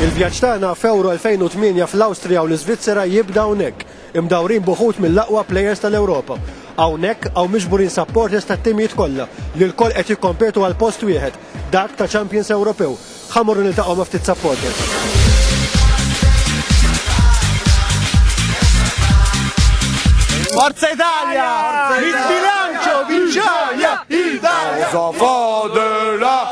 Il-vjaġġ tagħna f'Euro 2008 fl-Awstrija u l-Iżvizzera jibda hawnhekk, imdawrin b'uħud mill-aqwa plejers tal-Ewropa. Hawnhekk hawn miġburin supporters tat-timijiet kollha li lkoll qed jikkompetu għal post wieħed, dak ta' Champions Ewropew. Ħa morru niltaqgħu ma' ftit supporters. Forza Italia! Il bilancio vinciaia! Italia! Cosa fa della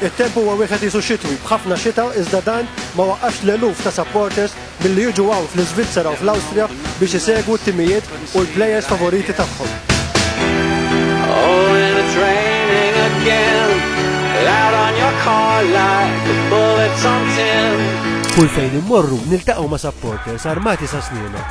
It-temp huwa wieħed qisu xitwi, b'ħafna xita iżda dan ma waqqafx l-eluf ta' supporters milli jiġu hawn fl-Iżvizzera u fl-Awstrija biex isegwu t-timijiet u l-players favoriti tagħhom. Kull fejn immorru niltaqgħu ma' supporters armati sa snina.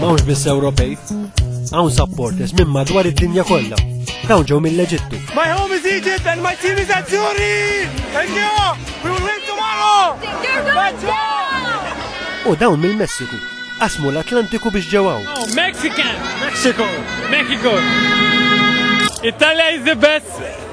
Mawx biss Ewropej, hawn supporters minn madwar id-dinja kollha. Dawn ġew mill-Eġittu. My home is Egypt and my team is at Zuri! Thank you! We will win tomorrow! Let's go! U dawn mill-Messiku. Asmu l-Atlantiku biex ġew hawn. Oh, Mexican! Mexico! Mexico! Italia is the best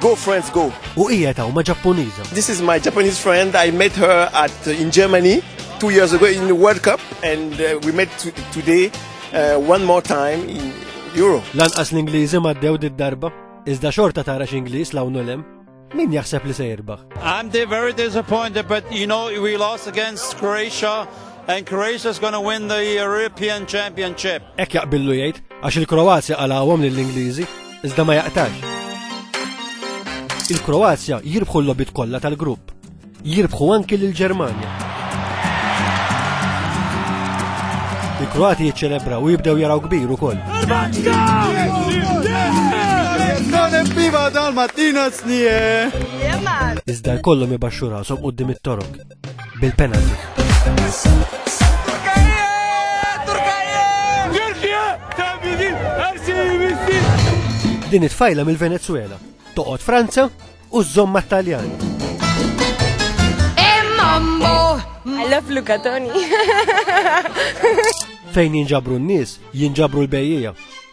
Go friends go. U hija ta' huma Ġappuniża. This is my Japanese friend. I met her at in Germany two years ago in the World Cup and uh, we met today uh, one more time in Europe. Lanqas l-Ingliżi maddew did-darba, iżda xorta tara x'Ingliż lawn ulem. Min jaħseb li se jirbaħ? I'm very disappointed, but you know we lost against Croatia and Croatia is going to win the European Championship. Ek jaqbillu jgħid, għax il-Kroazja qalawhom lill-Ingliżi iżda ma jaqtax. Il-Kroazja jirbħu l-lobit kollha tal-grupp. Jirbħu anki lill-Ġermanja. Il-Kroati jiċċelebra u jibdew jaraw kbir ukoll. Iżda jkollhom ibaxxu rashom quddiem it-torok. bil-penalty. Din it-tfajla mill-Venezuela toqgħod Franza u żomma Taljan. Eh, mambo! I love Luca Tony. Fejn jinġabru n-nies, jinġabru l-bejjija.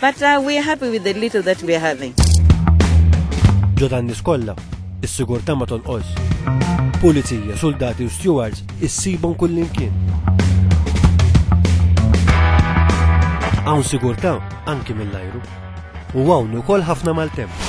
But uh, we are happy with the little that we are having. Ġo dan nies kollha, is-sigurtà ma tonqos. Pulizija, soldati u stewards issibhom kullimkien. Hawn sigurtà anki mill-ajru. U hawn ukoll ħafna mal-temp.